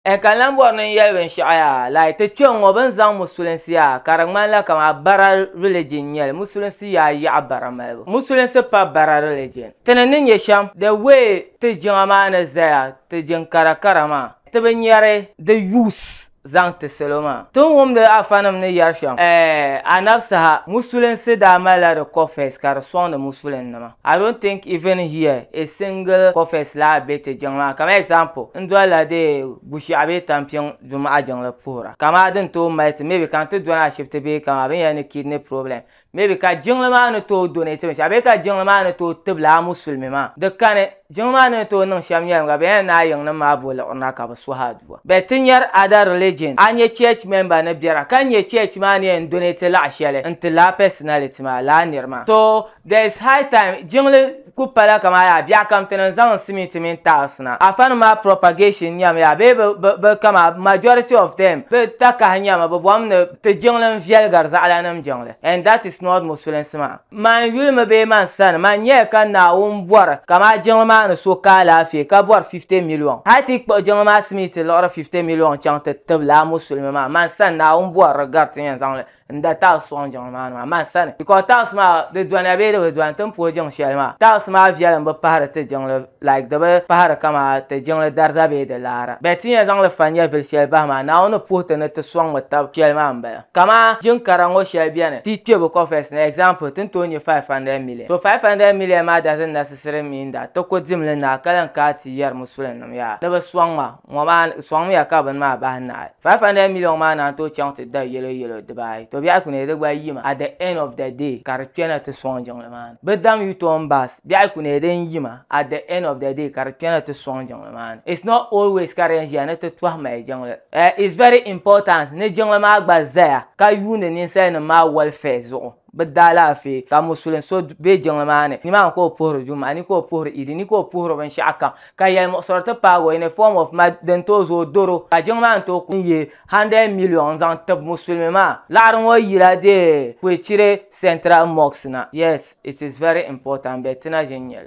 E ka lan bɔri ni n yɛli binshɛɣu yaa, like ti kpe ŋ-ŋɔ bɛ ni zaŋ musulinsi yaa ka di ŋmanila kaman bara religion n-nyɛli, musulinsi yaa yaɣi bara malibu, musulinsi pa bara religion. Ti ni ni nya shɛm, the way ti jiŋa maa ni zaya, ti jiŋ kara kara maa, ti bi nyari di use zaŋ ti salo maa. Ti ni wumdi Alfanim ni yɛri shɛm, eh, a nabi saha, musulinsi daa malila di cofes ka di sɔŋdi musulinnima. I don't think even here a single cofes laa be ti jiŋ maa kamani example n dolila di Bushiaɣu bee Tampiŋ Dumaɣa jiŋli puhira ka maa din tooi mali ti maybe ka n ti dɔni ashibiti bee kamani binyɛra ni kidney problem maybe ka jiŋli maa ni tooi donate binshɛɣu bee ka jiŋli maa ni tooi tibila a musulimi maa di kani jiŋli maa ni ni tooi niŋ shɛm nyɛlim ka binyɛra ni a yiŋnim maa bo liɣirina ka bi suhi aduwa but ti nyari other religion a nya church member ni biɛra ka n nya church maa ni yɛn donate laɣa shɛli n ti laa personality maa laa niri maa so There is high time jiŋli ku pala kaman yaa biɛɣu kam ti ni zaŋ simiti mini tiles na. Afanima maa propagation nyami yaa bee bɛ bɛ bɛ kama majority of them bɛ takahi nyami bɛ bom ni ti jiŋli n viɛligiri zaɣalanim jiŋli and that is not musulinsi maa. Man yuli mi bee man sani man nyɛya ka Naawuni bɔri ka maa jiŋli maa ni so ka alaafee ka bɔri 50 million hali ti yi kpuɣi jiŋli maa simiti liɣiri 50 million chaŋ ti tibila a musulimi maa man sani Naawuni bɔri di gari ti ni yɛn zaŋli n da taɣis sɔŋ jiŋli maa ni maa man sani because taɣis maa di doniya bee di bi doni ti ni puhi jiŋ shɛli maa taɣis maa viɛlim bi pahiri ti jiŋli like di bi pahiri kama ti jiŋli dariza bee di laara bɛ ti nya zaŋli fa nyɛvili shɛli bahi maa Naawuni ni puhi ti ni ti sɔŋmi tab shɛli maa m-bala kaman jiŋ kara ŋɔ shɛli beni ti kpe bi coffers ni example ti ni tooi nya 500 million so 500 million maa doesn't necessarily mean that ti ku dimli naai ka lan kaai ti yɛri musulinima yaa ni bɛ sɔŋ ma ŋɔ maa sɔŋmiya ka bini maa bahi nahi 500 million maa naan tooi chaŋ ti da yɛlo yɛlo dibaayi to biɛhi kune di gba yimi at the end of the day ka di kpɛna ti sɔŋ jiŋli maa ni bi dam u-turn bus biɛhi kune din yima at the end of the day ka di kpɛna ti sɔŋ jiŋli maa ni it's not always ka di yɛn ʒiya ni ti tɔhi mali jiŋli eh it's very important ni jiŋli maa gba zaya ka yuuni ninsali nim maa welfare zuɣu. bɛ daalaafee ka musulin so be jiŋli maa ni, nimaani ka o puhiri Juma'a ni ka o puhiri Idi ni ka o puhiri binshɛɣu kam ka yɛlimuɣisiri ti paagi o in a form of mad din tooi zooi doro ka jiŋli maa ni tooi kuli yihi 100 million n-zaŋ tib musulimi maa. Laɣiri ŋɔ yila dee Kwechire Central Mosque na. Yes, it is very important but ti na ʒini nyɛli.